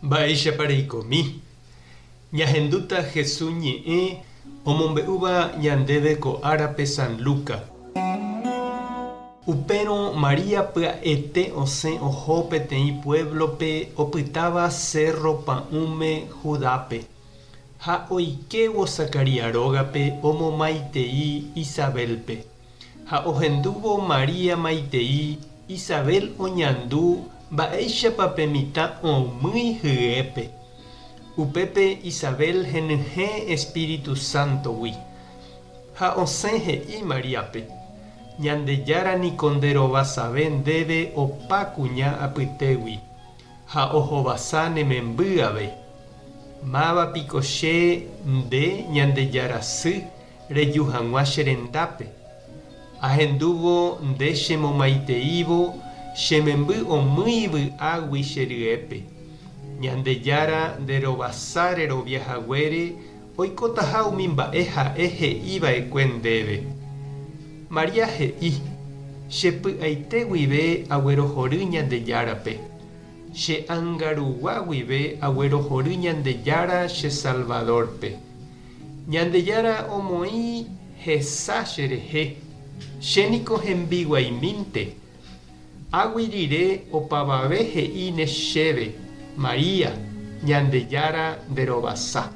Mba'éichapa reikomi? Ñahendúta Jesús ñe'ẽ omombe'úva ñandéve ko árape San Lucas. Upérõ María pya'ete osẽ oho peteĩ puévlope opytáva Sérro Pa'ũme Judápe, ha oikévo Zacarías rógape omomaitei Isabélpe. Ha ohendúvo María maitei Isabel oñandu mba'éichapa pe mitã oũmýi hyépe. Upépe Isabel henyhẽ Espíritu Santo-gui. Ha osẽ he'i Maríape, Ñandejára niko nde rovasave ndéve opa kuña apytégui, ha ohovasa ne memby ave. Máva piko che nde Ñandejára sy Reju hag̃ua che rendápe, ahendúvo nde chemomaiteívo che memby omýi vy'águi che ryépe. Ñandejára nde rovasa rerovia haguére oikotaha umi mba'e ha'e he'i va'ekue ndéve. María he'i, Che py'aite guive aguerohory Ñandejárape. Che ánga rugua guive aguerohory Ñandejára che Salvador-pe. Ñandejára omoĩ hesa cherehe, che niko hembiguaimínte. Águi rire opavave he'íne chéve, María, Ñandejára nde rovasa.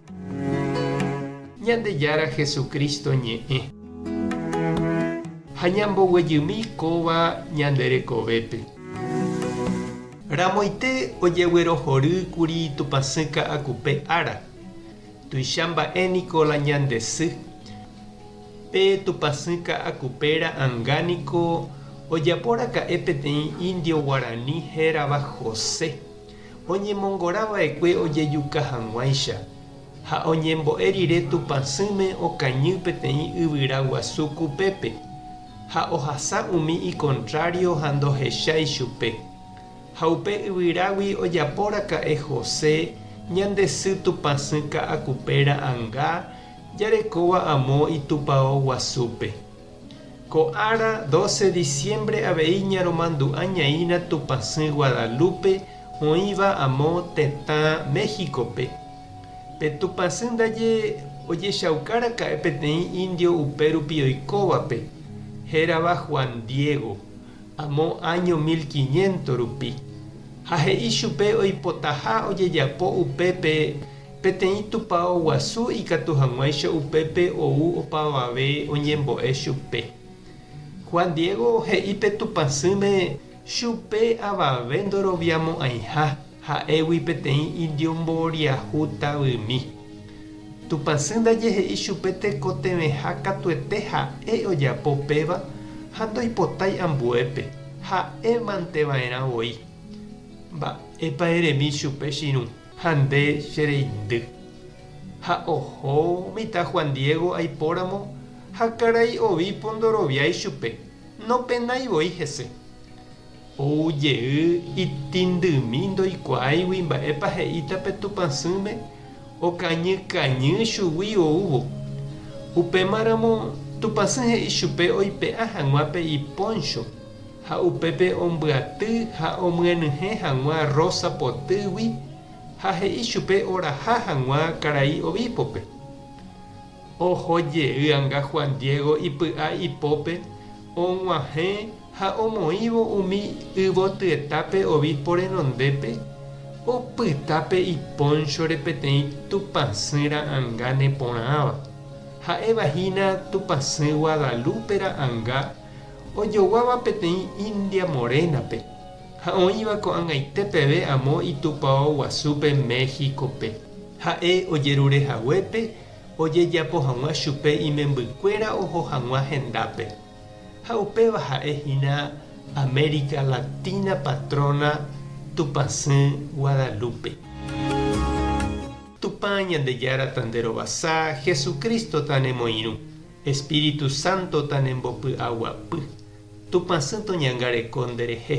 Ñandejára Jesucristo ñe'ẽ. Ha ñamboguejymi kóva ñande rekovépe. Ramoite ojeguerohory kuri Tupãsy Ka'akupe ára. Tuicha mba'e niko la ñande sy. Pe tupãsy ka'akupe'ra anga niko ojapo raka'e peteĩ indio guarani hérava José, oñemongora vaekue ojejuka hag̃uáicha, ha oñembo'e rire tupãsýme okañy peteĩ yvyra guasu kupépe, ha ohasa umi ikontrário ha ndohecha ichupe. Ha upe yvyrágui ojaporaka'e José ñande sy tupãsy ka'akupé ra'anga jarekóva amo itupao guasúpe. Ko ára doce diciembre avei ñaromandu'a ñaĩrã tupãsy Guadalupe oĩva amo tetã México-pe. Pe tupãsy ndaje ojechaukaraka'e peteĩ indio upérupi oikóvape, hérava Juan Diego. amo áño mil quiñénto rupi, ha he'i chupe oipotaha ojejapo upépe peteĩ tupao guasu ikatu hag̃uáicha upépe ou opavave oñembo'e chupe. Juan Diego he'i pe tupãsỹme chupe avave ndoroviamo'ãiha. Ha'égui peteĩ indio mboriahu tavymi. Tupãsy ndaje he'i chupe tekotevẽha katuete ha'e ojapo péva ha ndoipotái ambuépe ha'e mante vaerã voi. Mba'épa eremi chupe chirũ ha nde che reindy. Ha oho mitã Juan Diego aipóramo ha karai ovípo ndoroviái chupe, nopenái voi hese. Ou jey itindymi ndoikuaáigui mba'épa he'íta pe tupãsỹme okañy kañy chugui oúvo. Upémaramo tupãsỹ he'i chupe oipe'a hag̃ua pe ipóncho ha upépe ombyaty ha omyenyhẽ hag̃ua rósa potýgui ha he'i chupe oraha hag̃ua karai ovípope. Oho jey anga Juan Diego ipy'a ipópe og̃uahẽ ha omoĩvo umi yvotyetápe obispo renondépe, opyta pe ipónchore peteĩ tupãsy ra'anga neporãva, ha'éva hína tupãsy Guadalupe ra'anga, ojoguáva peteĩ India Morénape ha oĩva ko'ag̃aite peve amo itupao guasúpe México-pe. Ha'e ojerure haguépe ojejapo hag̃ua chupe imembykuéra oho hag̃ua hendápe, ha upéva ha'e hína América Latina Patrona Tupãsy Guadalupe. Tupã Ñandejára tanderovasa, Jesucristo tanemoirũ, Espíritu Santo tanembopy'aguapy, Tupãsy toñangareko nderehe.